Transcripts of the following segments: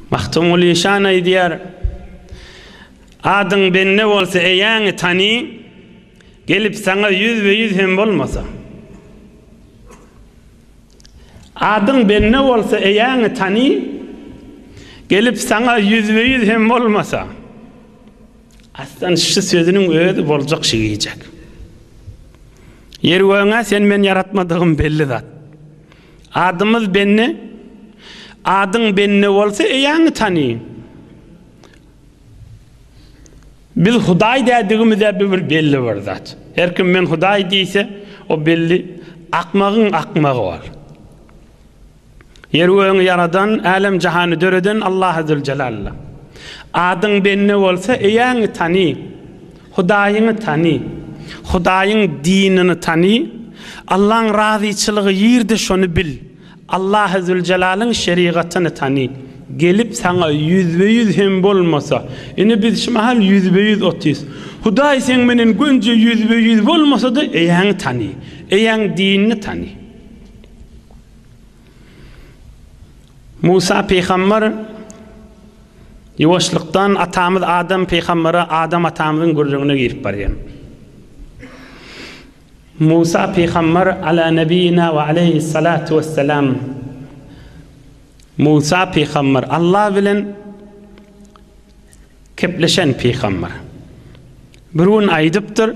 Magtymguly şan aýdýar, Adyň bende bolsa eýäňi tany, Gelip saňa ýüzbe-ýüz hem bolmasam. Adyň bende bolsa eýäňi tany, Gelip saňa ýüzbe-ýüz hem bolmasam. Aslan şu sözüniň özi boljak şigijek. Ýer-gögüň-ä sen-men ýaratmadygym belli zat. Adymyz Benne. Adyň Benne bolsa eýäňi tany. Biz Hudaý dädigimiz-ä bu bir belli bir zat. Her kim men Hudaý diýse, o belli akmagyň akmagy bol. Ýer-gögüňi ýaradan, älem-jahany döreden Allahy Züljelalla. Adyň Benne bolsa eýäňi tany. Hudaýyňy tany. Hudaýyň dinini tany. Allaň razyçylygy ýerde şony bil. Allahy Züljelalyn şerigatyny tany. Gelip saňa ýüzbe ýüz hem bolmasa, ine biz şu mahal ýüzbe ýüz otyrys. Hudaý seň menen gönje ýüzbe ýüz bolmasada eýäňi tany. Eýäň dinini tany. Musa pygamber ýuwaşlykdan atamyz Adam pygambere Adam atamyzyň gürrüňine girip barýar. Musa pygamber ala nebiyina we aleyhissalatu vesselam Musa pygamber Allah bilen kepleşen pygamber. Bir gün aýdypdyr.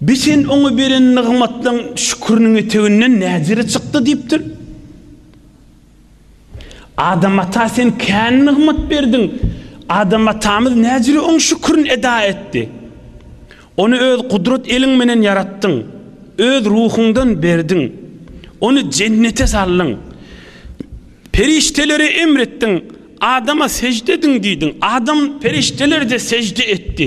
Biz sen oňa beren nygmatlaň şüküriniň eteginden näzire çykdy diýipdir. Adam ata sen kän nygmat berdiň. Adam atamyz näzire oň şükürini eda etdi. Ony öz gudrat eliň menen ýaratdyň. Öz ruhuňdan berdiň. Ony jennete saldyň. Perişdelere emr etdiň, Adama sejde ediň diýdiň. Adam perişdeler-de sejde etdi.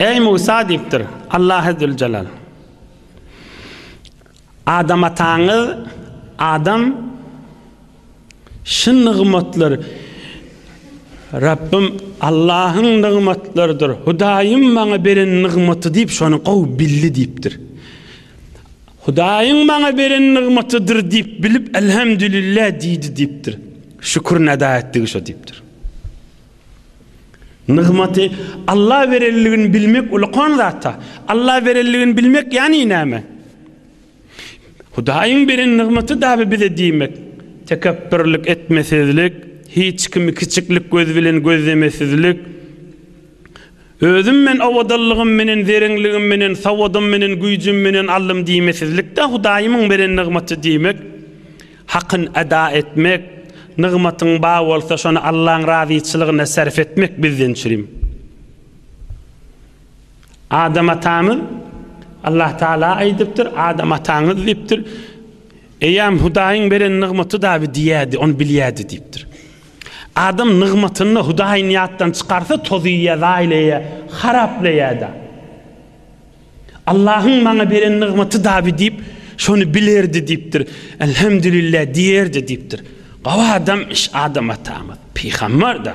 Eý Musa diýipdir, Allahy Züljelal, Adam ataňyz Adam şu nygmatlar Rabbym Allahyň nygmatlarydyr, Hudaýym maňa beren nygmaty diýip şony gowy bildi diýipdir. Hudaýyň maňa beren nygmatydyr diýip bilip, Elhemdülillah diýdi diýipdir. Şükür neda etdigi şo diýipdir. Nygmaty Alla berenligini bilmek ulakan zatda. Alla berenligini bilmek ýani näme? Hudaýyň beren nygmaty daby bize diýmek. Tekepbürlik etmesizlik, hiç kimi kiçiklik gözi bilen gözlemesizlik. Özüm men owadallygym menen, zerenligim menen, sowadym menen, güýjüm menen aldym diýmesizlik-de Hudaýymyň beren nygmaty diýmek. Hakyny eda etmek, nygmatyň bar bolsa şony Allaň razyçylygyna sarp etmek bizden çürim. Adam atamyz, Allah Tagala aýdypdyr, Adam ataňyz diýipdir, Eýýäm Hudaýyň beren nygmaty dabi diýýärdi, ony bilýärdi diýipdir. Adam nygmatyny Hudaýyny ýatdan çykarsa tozuýýar, zaýlaýýar, haraplaýar-da. Allahyň maňa beren nygmaty dabi diýip, şony bilerdi diýipdir. Elhemdülillah diýerdi diýipdir. Gowy adamyş Adam atamyz, pygamber-da.